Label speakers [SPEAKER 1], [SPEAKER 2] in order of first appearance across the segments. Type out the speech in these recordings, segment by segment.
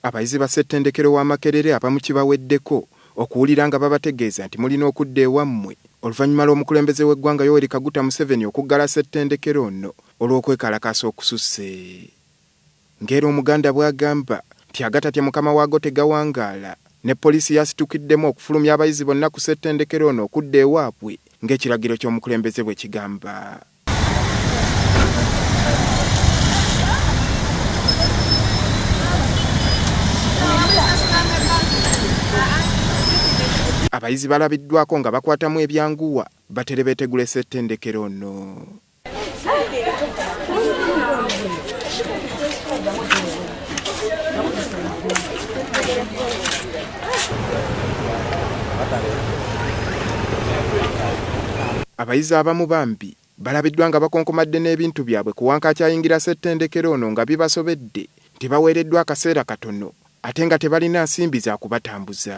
[SPEAKER 1] Abayizi ba Ssettendekero wa Makerere abamu kibaweddeko okuwulira nga babategeeza nti mulina okudda ewammwe oluvannyuma lw'omukulembeze w'eggwanga Yoweri Kaguta Museveni okuggala Ssettendekero ono olw'okwekalakaasa okususse ng'era Omuganda bwagamba nti agatatya mukama waago tegawangaala ne Poliisi yasitukiddemu okufulumya abayizi bonna ku Ssettendekero ono okudda ewaabwe ng'ekiragiro ky'omukulembeze bwekigamba. Abayizi balabiddwako nga bakwatamu ebyanguwa batere betegula esettendekero ono. Abayizi abamu bambi balabiddwa nga bakonkomadde n'ebintu byabwe ku Wankaaki ayingira ssettendekero ono nga bibasobedde nti baweereddwa akaseera katono ate nga tebalina nsimbi za kubatambuza.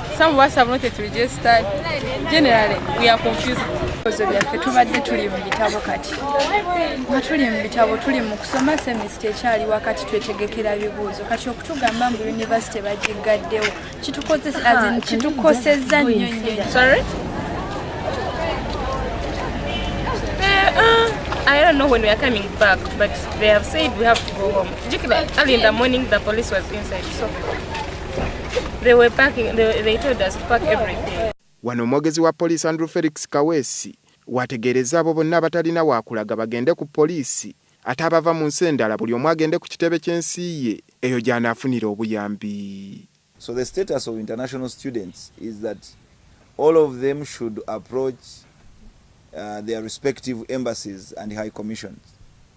[SPEAKER 2] Some of us have not yet registered. Generally, we are confused. Ebibuuzo byaffe tubadde
[SPEAKER 3] tuli mu bitabo kati nga tuli mu bitabo tuli mu kusoma semisita ekyali wakati twetegekera bibuuzo kati okutugamba mbu yunivasite bagiggaddewo kitukosezza ah, nnyo
[SPEAKER 2] nnyo I don't know when we are coming back, but they have said we have to go home. Jikila, early in the morning, the police was inside. So. Wano omwogezi wa
[SPEAKER 1] poliisi Andrew Felix Kaweesi w'ategeerezza abo bonna abatalina waakulaga bagende ku poliisi ate abava mu nsi endala buli omu agende ku kitebe ky'ensi ye eyo gy'anaafunira obuyambi. So the status
[SPEAKER 4] of international students is that all of them should approach their respective embassies and high commissions.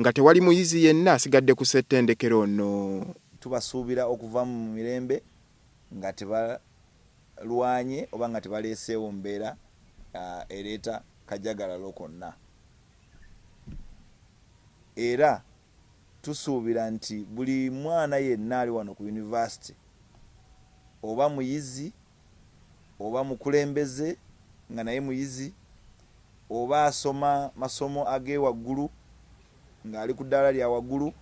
[SPEAKER 1] Nga tewali muyizi yenna asigadde ku ssettendekero ono. Tubasuubira
[SPEAKER 4] okuvaamu mu mirembe nga tebalwanye oba nga tebaleeseewo mbeera ereeta kajagalalo konna era tusuubira nti buli mwana yenna ali wano ku yunivasite oba muyizi oba mukulembeze nga naye muyizi, oba asoma masomo ag'ewaggulu ng'ali ku ddaala lya waggulu,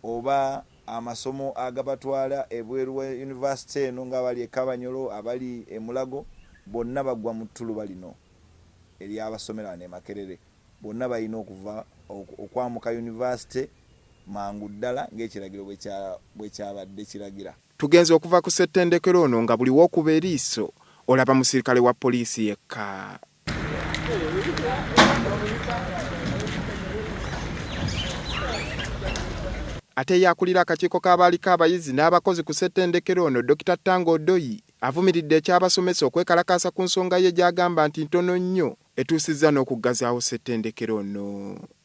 [SPEAKER 4] oba amasomo agabatwala ebweru wa yunivasite eno ng'abali e Kabanyolo, abali e Mulago bonna bagwa mu ttuluba lino ery'abasomera wano e Makerere. Bonna balina okuva okwamuka yunivasite mangu ddala ng'ekiragiro bwe kyabadde kiragira. Tugenze okuva ku
[SPEAKER 1] ssettendekero ono nga buli w'okuba eriiso olaba musirikale wa poliisi yekka. Ate ye akulira akakiiko k'abaaliko abayizi n'abakozi ku ssettendekero ono, Dokita Tanga Odoi avumiridde eky'abasomesa okwekalakaasa ku nsonga ye gy'agamba nti ntono nnyo etuusizza n'okuggazaawo ssettendekero ono.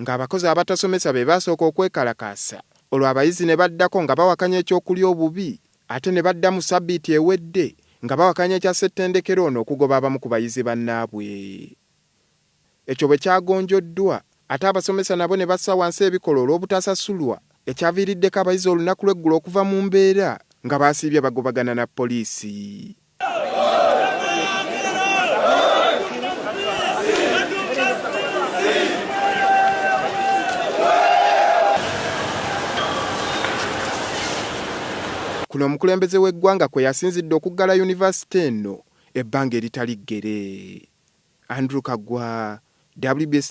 [SPEAKER 1] ng'abakozi abatasomesa be baasooka okwekalakaasa olwo abayizi ne baddako nga bawakanya eky'okulya obubi ate ne badda mu ssabbiiti ewedde nga bawakanya ekya ssettendekero ono okugoba abamu ku bayizi bannaabwe ekyo bwe kyagonjoddwa ate abasomesa nabo ne bassa wansi ebikola olw'obutasasulwa ekyaviiriddeko abayizi olunaku lw'eggulo okuva mu mbeera nga baasiibye bagobagana na poliisi. Kuno omukulembeze w'eggwanga kwe yasinzidde okuggala yunivasite eno ebbanga eritali ggere. Andrew Kagwa, WBS.